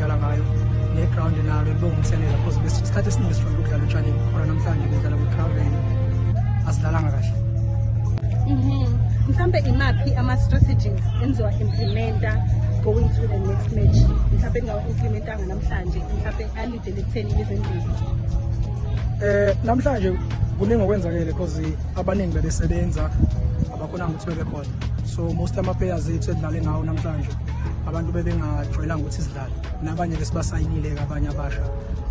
dlala ngayo ne-ground nalo libewumthelela because isikhathi esiningi sifanele ukudlala etshanini khona namhlanje kudlala kwi-ground lane asidlalanga kahle mhm. mhlawumbe imaphi ama-strategies enziwa implementa going to the next match mhlawumbe engawa-implementanga namhlanje mhlawumbe alidele ekutheni izendlini um eh, namhlanje kuningi okwenzakele because abaningi bebesebenza bakhona ukuthi bebe khona so most ama-players ethu edlale ngawo namhlanje abantu bebengajwayelanga ukuthi sidlale nabanye ke sibasayinile-ke abanye abasha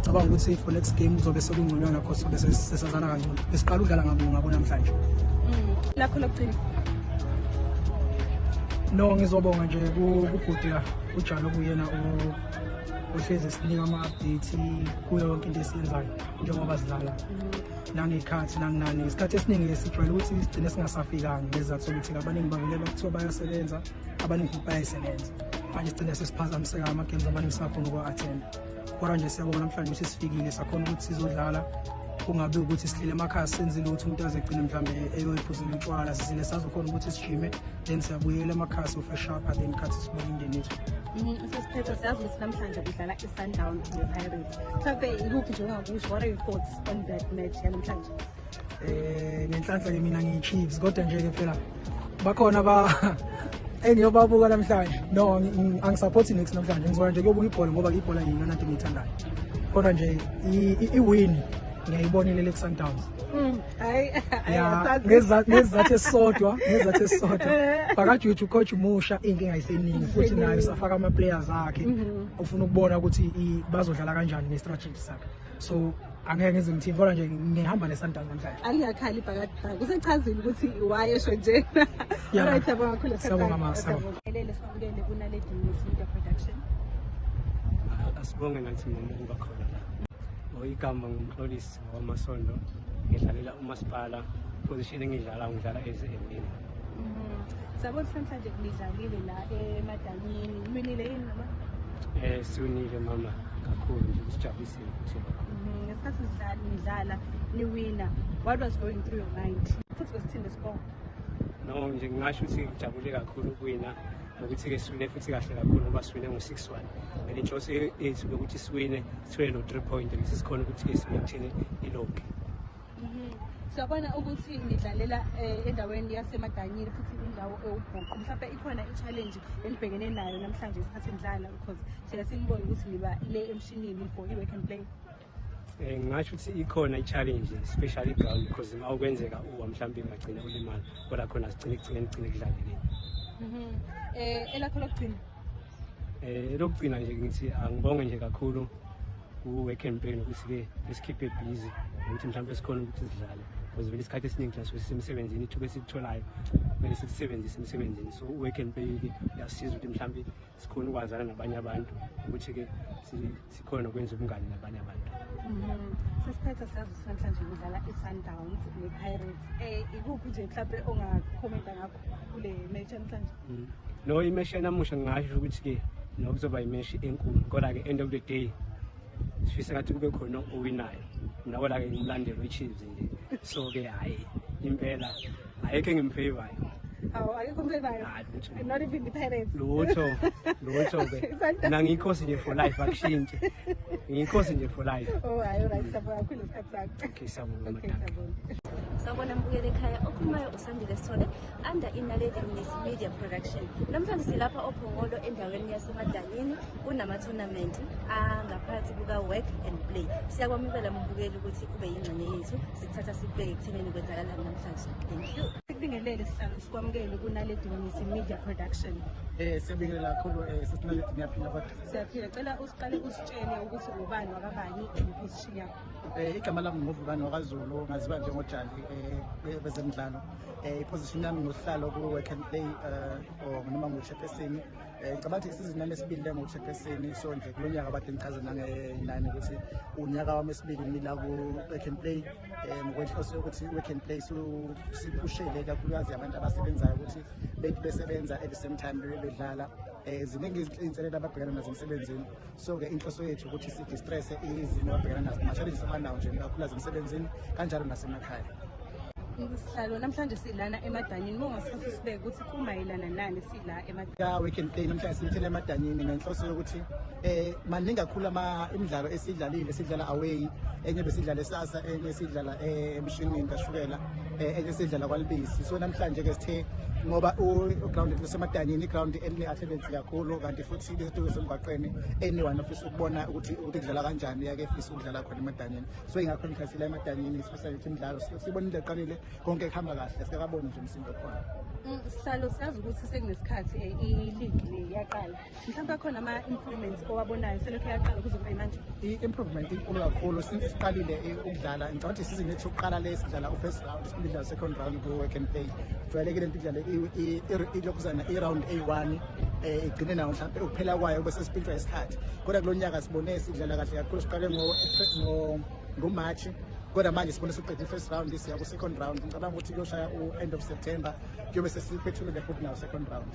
cabanga ukuthi for next game kuzobe sekungconywana cause sobe sesazana kangcono besiqala udlala ngabo ngabo namhlanje mm. lakho lokugcina no ngizobonga nje kubhuti la ujalo kuyena ohlezi sinika ama-update kuyo yonke into esiyenzayo njengoba sidlala mm. nangekhathi nanginani isikhathi esiningi lesijwayele ukuthi sigcine singasafikanga ngezizathu sokuthi abaningi bavelelwa kuthiwa bayasebenza abaningi futhi bayayisebenza manje sigcine sesiphazamiseka ama-games abaningi singakhona ukuwa-athenda kodwa nje siyabona namhlanje ukuthi sifikile sakhona ukuthi sizodlala kungabe ukuthi sihlile emakhaya senze lutho umuntu aze egcine mhlawumbe eyoyiphuzela utshwala sizile sazokhona ukuthi sijime then siyabuyela emakhaya sofeshapha then khathi sibona indeni yethu mm, sesiphetho siyazi ukuthi namhlanje udlala i-sundown ne-pirate Mhlampe ikuphi nje ongakusho what are your thoughts on that match yanamhlanje? Eh ngenhlanhla ke mina ngiyiChiefs kodwa nje ke phela bakhona ba engiyobabuka namhlanje no angisupport next namhlanje ngizoya nje kuyobuka ibhola ngoba ibhola yiyona nto engiyithandayo kodwa nje i-win ngiyayibonelele ku-sundowns mm. ngezathu esisodwa ngezathu esisodwa bakajuju coach umusha inkinga iseningi futhi naye usafaka ama-players akhe mhm. ufuna ukubona ukuthi bazodlala kanjani nge-strategy sakhe so angeke ngize ngithini kodwa nje ngihamba nesantana namhlanje angiyakhali ibhakadibhaka kusechazile ukuthi why esho njena right yabonga kakhulu siyabonga ma siyabongelele sibukele kunaledi news media production asibonge nathi mama ukuba khona la ngoyigama ngumxolisi Amasondo ngidlalela umasipala position engidlala ngidlala as a wing. Mhm. Sabo namhlanje ngidlalile la emadanyini. Uminile yini mama? Eh siwinile mama kakhulu nje sijabulisiwe ukuthi. Mhm. Ngesikhathi sidlala nidlala niwina. What was going through your mind? Futhi kwesithini score? No nje ngingasho ukuthi ngijabule kakhulu ukuwina nokuthi-ke siwine futhi kahle kakhulu ngoba siwine ngo-six one and inhloso yethu ukuthi siwine Sithwele no 3 point ngise sikhona ukuthi ke simaintain ilogi. Mhm. Siyabona ukuthi nidlalela eh, endaweni yaseMadanyini futhi indawo ewubhuqu. Mhlawumbe ikhona i-challenge enibhekene nayo namhlanje isikhathi nidlala because siya sinibona ukuthi niba le emshinini for i-work and play. Eh, ngingasho ukuthi ikhona i-challenge especially ground because uma ukwenzeka uwa mhlawumbe ungagcina ulimala kodwa khona sigcine ekugcine kugcine kudlalekile um elakho lokugcina Eh lokugcina nje ngithi angibonge nje kakhulu kuwe campaign ukuthi ke esikhiphe busy ukuthi mhlawumbe sikhona ukuthi sidlale because vele isikhathi esiningi thina sisuke sisemsebenzini ithuba esikutholayo kumele silisebenzise emsebenzini so uwe campaign ke uyasiza ukuthi mhlawumbe sikhona ukwazana nabanye abantu ukuthi ke sikhona nokwenza ubungani nabanye abantu mhm. sesiphethe siyazi sinamhlanje kudlala i-sundowns ne-pirates um ikuphi nje mhlawumbe ongakhomenta ngakho kule match namhlanje mhm. no imeshi yanamusha ngingasho ukuthi-ke nokuzoba imeshi enkulu kodwa-ke end of the day sifisa ngathi kube khona owinayo nakola-ke ngimlandelo i-chiefs nje so-ke hhayi impela ayikho engimfavorayo awu akekho umfevayo Hayi, lutho. not even the parents lutho lutho ke Isandla. mina ngiyikhosi nje for life akushintshe ngiyikhosi nje for life oh hayi right sabona kakhulu isikhathi sakho okay sabona okay madam sabona Sawubona mbukeli ekhaya okhulumayo usandile sithole under inaledi miss media production namhlanje silapha ophongolo endaweni yasemadalini kunama-tournament angaphansi kuka-work and play siyakwamukela mbukeli ukuthi ube yingxenye yethu thatha sibheke ekuthenini kwenzakalani namhlanje thank you sikubingelele sihlalo sikwamukele kunaledi misi media production eh siyabingelela kakhulu eh sesinaledi ngiyaphila kodwa siyaphila cela usiqale usitshele ukuthi ubani wakabani imposition yakho eh igama lami nguvukani wakazulu ngaziwa njengojali eh bezemidlalo eh iposition yami ngusihlalo ku work and play eh or noma ngushephesini Eh, ngicabanga ukuthi isizini yami esibili le ngokushekesini so nje kulo nyaka abade ngichaze nangenani ukuthi unyaka wami esibili ngila ku-work and play um eh, ngokwenhloso yokuthi i-work and play siphushele kakhulukazi abantu abasebenzayo ukuthi bethi besebenza at the same time bebedlala um eh, ziningi iy'nselelo ababhekana nazo emsebenzini so-ke inhloso yethu ukuthi sidistrese izimo abhekana nazo ama-challenges abanawo nje kakhulu asemsebenzini kanjalo nasemakhaya sihlalo namhlanje silana emadanyini uma ungasithatha usibeke ukuthi kumayelana nani sila emadanyini weekend day namhlanje silithele emadanyini ngenhloso yokuthi eh maningi kakhulu ama imidlalo esidlalile sidlala away enye besidlala esasa enye sidlala eh, emshinini kashukela eh, enye sidlala kwalibisi so namhlanje ke sithe ngoba u ground lesemadanyini i ground eline athletics kakhulu kanti futhi izinto zasemgwaqeni anyone ofisa ukubona ukuthi ukuthi kudlala kanjani yake efisa ukudlala khona emadanyeni so ingakho ngikhathile emadanyeni sifisa ukuthi imidlalo sibona into eqalile konke kuhamba kahle sikakaboni nje umsindo khona mm, sihlalo sazi ukuthi sekunesikhathi eh, iligi le yaqala mhlawumbe akhona ama-improvements owabonayo selokhu yaqala ukuze kube manje i-improvement inkulu kakhulu since siqalile eh, ukudlala ngicabanga ukuthi isizini yethu yokuqala le sidlala u-first round sidlala second round ku-work and play jwayelekile nto idlale ilokhuzana i-round a-one eh igcine nawo mhlawumbe ukuphela kwayo bese siphintshwa isikhathi kodwa kulo nyaka sibone sidlala kahle kakhulu siqale ngomarch kodwa manje sibone siqede i-first round siya ku-second round ngicabanga ukuthi kuyoshaya u-end of september kuyobe sesiphethulule futhi nawo second round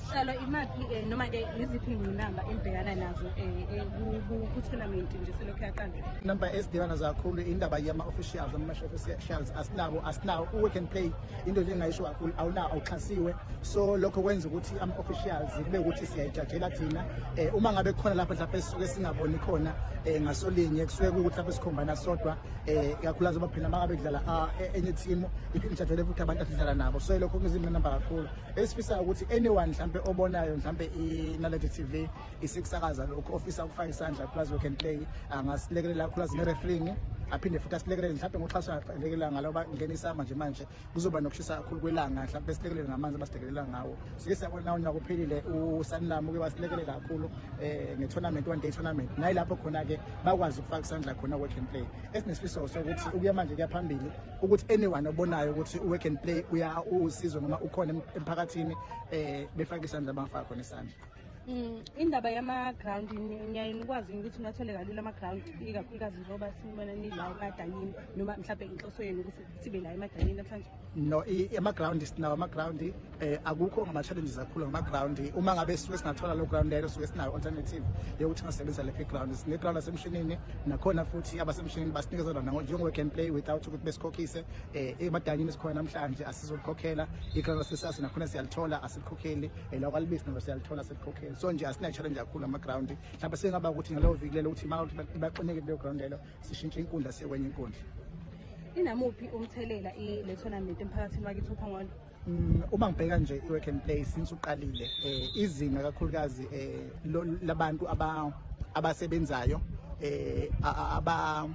sihlala imaphi um eh, noma-ke yiziphi iy'ngqinamba enibhekana nazo um ku-tournament nje selokhu yaqala inamba ezibhekana zakhulu indaba yama-officials ama-match officials asinawo asinawo u-work and play into nje engayisho kakhulu awuna awuxhasiwe so lokho kwenza ukuthi ama officials kube ukuthi siyayijajela thina eh uma ngabe khona lapho mhlawumbe sisuke singaboni khona eh ngasolinye kusuke ukuthi lapho sikhombana sodwa eh kakhulukazi baphila makabe kudlala ah, e, enye team ijajele futhi abantu asidlala nabo so lokho kuzimnamba kakhulu esifisa ukuthi anyone mhlawumbe obonayo mhlawumbe inaledi TV isikusakaza lokhu ofisa ukufaka isandla plus work and play angasilekelela kakhulu azinereferingi aphinde futhi asilekelele mhlawumbe ngoxhaso alekelela ngalo bangenisa manje manje kuzoba nokushisa kakhulu kwelanga mhlawumbe besilekelele ngamanzi abasilekelela ngawo sike siyabona nawo nyaka uphelile usanilami uke wasilekelela kakhulu um nge-tournament one day tournament naye lapho khona-ke bakwazi ukufaka isandla khona work and play esinesifiso sokuthi ukuya manje kuya phambili ukuthi anyone obonayo ukuthi u-work and play usizo noma ukhona emphakathini um befake isandla bangafaka khona isandla Mm, indaba yama-ground ngiyaye nikwazi ukuthi ungathole kalula ama-ground ikakhulukazi njengoba sibona nila emadanyini noma mhlawumbe inhloso yenu ukuthi sibe la emadanyini namhlanje no ama-ground sinawo ama-ground um eh, akukho ngama-challenges kakhulu ngama-ground uma ngabe suke singathola lo ground lelo suke sinayo alternative yokuthi ngasebenzisa lephi ground sine-ground lasemshinini nakhona futhi abasemshinini basinikeza lona njengoba can play without ukuthi besikhokhise um emadanyini esikhona namhlanje asizolikhokhela i-ground lasesasi nakhona siyalithola asilikhokheli ela kwalibisi nalo siyalithola selikhokheli so nje asina-challenge kakhulu ama-ground mhlawumbe sengaba ukuthi ngaleyo viki lelo ukuthi maka ukuthi baxineke kuleyo ground lelo sishintshe inkundla siye kwenye inkundla inamuphi umthelela le tournament emphakathini wakithi uphongolo Mm, uma ngibheka nje i-work and play since uqalile eh izinga kakhulukazi eh labantu aba abasebenzayo eh aba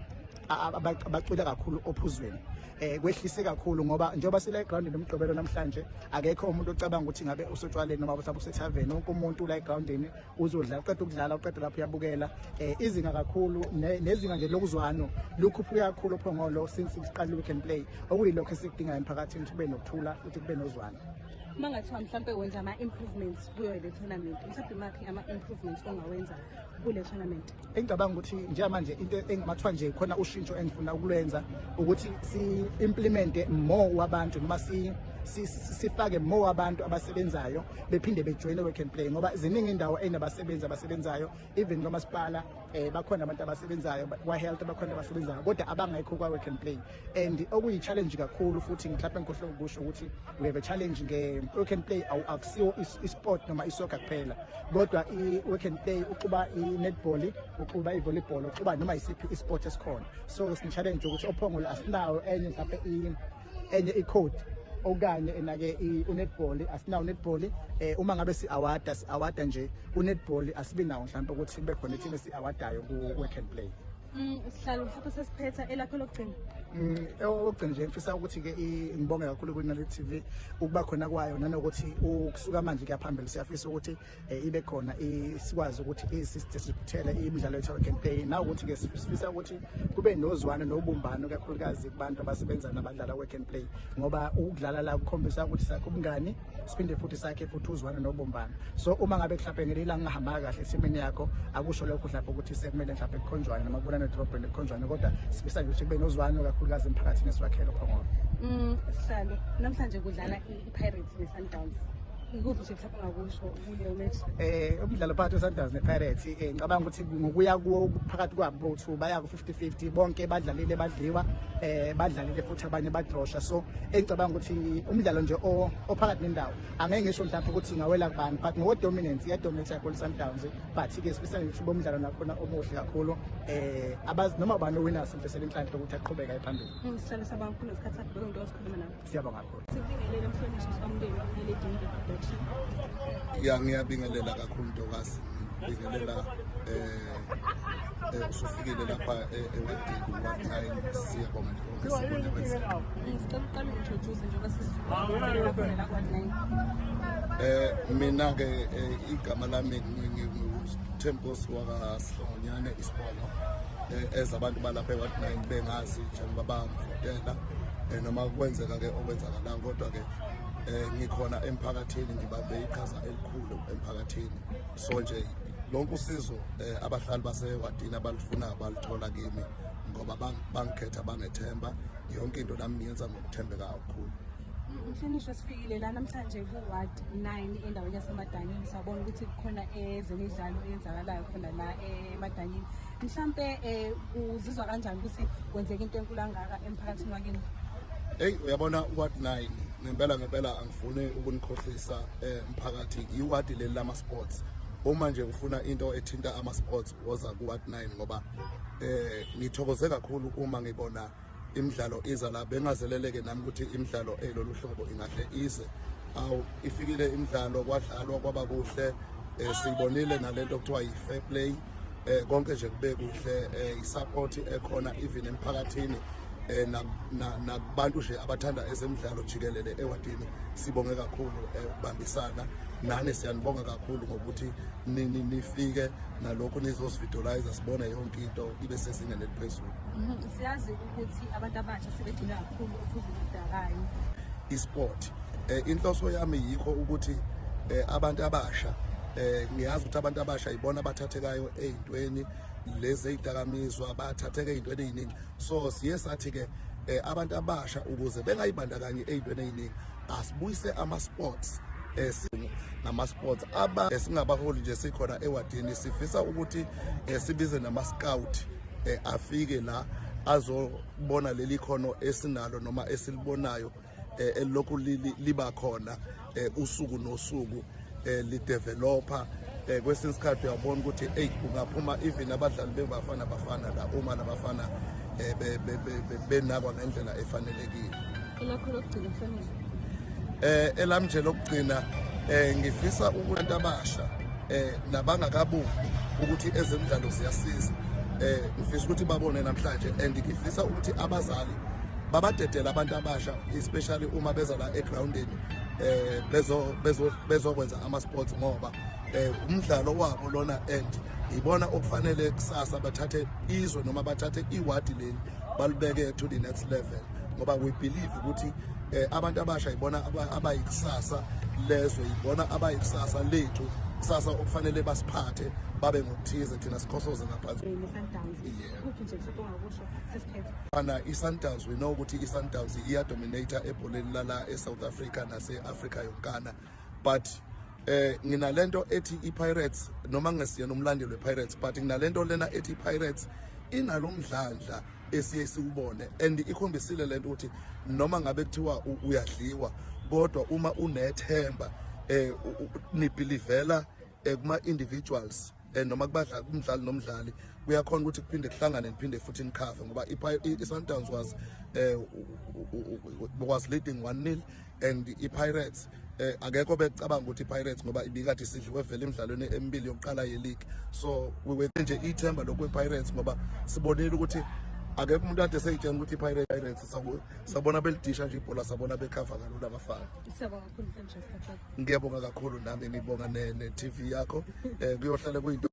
abacwile kakhulu ophuzweni eh kwehlise kakhulu ngoba njengoba sile ground nomgqibelo namhlanje akekho umuntu ocabanga ukuthi ngabe usotshwaleni noma usabe usethaveni wonke umuntu la egroundini uzodla uqeda ukudlala uqeda lapho uyabukela eh izinga kakhulu nezinga nje lokuzwano lukhuphuke kakhulu phongolo since siqala we can play okuyilokho esikudingayo emphakathini ukuthi kube nokuthula futhi kube nozwano uma ngathiwa mhlawumbe wenza ama-improvements kuyo le tournament mhlawumbe imaphi ama-improvements ongawenza kule tournament engicabanga ukuthi njengamanje into engimathwa nje khona ushintsho engifuna ukulwenza ukuthi si-implemente more wabantu noma sifake more abantu abasebenzayo bephinde bejoyine work and play ngoba ziningi indawo enabasebenzi abasebenzayo even kwamasipala um bakhona abantu abasebenzayo kwa-health bakhona abasebenzayo kodwa abangekho kwa-work and play and okuyi-challenge kakhulu futhi mhlawumpe ngikhohle ukusho ukuthi we have a challenge nge-work and play akusiwo i-sport noma isoka kuphela kodwa i-work and play uxuba i-netball uxuba i-volleyball uxuba noma yisiphi i-sport esikhona so sine-challenge ukuthi ophongolo asinawo enye mhlawumpe enye i-code okanye enake unetball asinawo netball eh uma ngabe si award si award nje unetball asibi nawo mhlawumbe ukuthi kube khona ithini si awardayo ku work and play Mm, sihlalo mhlawumbe sesiphetha elakho lokugcina mm, okugcina nje ngifisa ukuthi-ke ngibonge kakhulu kwinale TV ukuba khona kwayo nanokuthi ukusuka manje kuyaphambili siyafisa ukuthi eh, ibe khona sikwazi ukuthi isisithiphithele imidlalo yethu campaign nawukuthi-ke sifisa ukuthi kube nozwano nobumbano kakhulukazi kubantu abasebenza nabadlala work and play ngoba ukudlala la kukhombisa ukuthi sakho ubungani siphinde futhi sakhe futhi uzwane nobumbano so uma ngabe mhlawumbe ngelinye ilanga ungahambanga kahle esimeni yakho akusho lokho mhlawumbe ukuthi sekumele mhlawumbe kukhonjwane noma kubulane edrobheni kukhonjwane kodwa sifisa nje ukuthi kube nozwane kakhulukazi emphakathini esiwakhele phongolo mm, sihlalo namhlanje kudlala i-pirates ne-sundowns um umdlalo phakathi wesundowns nepirates um ngicabanga ukuthi ngokuya kuwo phakathi kwabo bowu-two baya 50 bonke badlalile badliwa eh badlalile futhi abanye badrosha so engicabanga ukuthi umdlalo nje ophakathi nendawo angeke ngisho mhlawumbe ukuthi ngawela kubani but ngo dominance ya dominate yakho Sundowns but ke sifisa ngisho bomdlalo nakhona omuhle kakhulu eh abazi noma bani owina simfisela inhlanhla ukuthi aqhubeka ephambili ngisihlale sabakhulu ngesikhathi sakho ngizosikhuluma nawe Siyabonga kakhulu. Sibingelele mhlonishwa somndeni ngeledini likaDothi. Ya ngiyabingelela kakhulu Ntokazi. Ngibingelela eh, eh usufikile lapha eh, ewedini wa9 siyabonga nje konke sikwenza kwenzeka. Ngicela uqale introduce njengoba sizwile khona kwa9. Eh mina ke eh, igama lami nginguTempos waka Sihlongonyane isibona eh, ezabantu balapha ewa9 bengazi njengoba bangifotela eh, noma kwenzeka-ke okwenzakalanga kodwa-ke um ngikhona emphakathini ngibambe iqhaza elikhulu emphakathini so nje lonke usizo eh abahlali basewadini abalifuna balithola kimi ngoba bangikhetha bangethemba yonke into nami ngiyenza ngokuthembeka kakhulu Mhlonishwa sifikile la namhlanje ku-ward 9 endaweni yasemadanyini sabona ukuthi kukhona ezemidlalo eyenzakalayo khona la emadanyini mhlampe um uzizwa kanjani ukuthi kwenzeka into enkulu angaka emphakathini wakini eyi uyabona uward nine ngempela ngempela angifuni ukunikhohlisa um mphakathi iwadi leli lama-sports uma nje ufuna into ethinta ama-sports woza ku-ward nine ngoba um ngithokoze kakhulu uma ngibona imidlalo iza la bengazeleleke nami ukuthi imidlalo elolu hlobo ingahle ize awu ifikile imidlalo kwadlalwa kwaba kuhle um siyibonile nalento okuthiwa yi-fair play um konke nje kube kuhle um i-support ekhona even emphakathini um nakubantu nje abathanda ezemidlalo jikelele ewadini sibonge kakhulu um ukubambisana nani siyanibonga kakhulu ngokuthi nifike nalokhu nizosividolayiza sibone yonke into ibe sezingeni eliphezulu mhm. Siyazi ukuthi abantu abasha sebegcina kakhulu uphuzo oludakayo. I-sport. Eh, inhloso yami yikho ukuthi eh, abantu abasha eh ngiyazi ukuthi abantu abasha yibona abathathekayo ezintweni lezi ezidakamizwa bathatheke ezintweni eziningi so siye sathi ke eh, abantu abasha ukuze bengayibandakanye ezintweni eziningi asibuyise ama sports esinye nama-sports aba esingabaholi nje sikhona ewadini sifisa ukuthi eh, sibize nama-scout eh, afike la azobona leli khono esinalo noma esilibonayo eh, elokhu liba khona eh, usuku nosuku eh, lideveloper eh, kwesinye isikhathi uyabona ukuthi eyi kungaphuma even abadlali bebafana bafana la uma labafana eh, benakwa ngendlela efanelekile elakho lokugcina fanele eh elami nje lokugcina eh ngifisa ukuntu abasha eh nabangakabuki ukuthi ezemidlalo ziyasiza eh ngifisa ukuthi babone namhlanje and ngifisa ukuthi abazali babadedela abantu abasha especially uma beza la egroundini eh bezo bezo bezokwenza ama sports ngoba eh umdlalo wabo lona and ibona okufanele kusasa bathathe izwe noma bathathe iwadi leli balibeke to the next level ngoba we believe ukuthi eh, abantu abasha yibona abayikusasa lezwe yibona abayikusasa lethu kusasa okufanele basiphathe babe ngokuthize thina sikhosoze ngaphansi ana i-sundowns we know ukuthi i-sundowns iyadominata ebholeni lala e-south africa nase-africa yonkana but eh nginalento ethi iPirates noma ngesiyena umlandeli wePirates but nginalento lena ethi iPirates inalomdlandla esiye siwubone and ikhombisile lento ukuthi noma ngabe kuthiwa uyadliwa kodwa uma unethemba eh nibelivela eh, kuma individuals eh, noma kubadlali kumdlali nomdlali kuyakhona ukuthi kuphinde kuhlangane niphinde futhi nikhave ngoba i-Sundowns was eh was leading 1-0 and iPirates eh akekho becabanga ukuthi iPirates ngoba ibikade isidliwe vele emidlalweni emibili yokuqala yeleague so we were nje ithemba lokwe Pirates ngoba sibonile ukuthi akekho umuntu ade seyitshela ukuthi iPirates Pirates sabona belidisha nje ibhola sabona bekhava kalula abafana ngiyabonga kakhulu nami ngibonga ne TV yakho eh kuyohlale kuyinto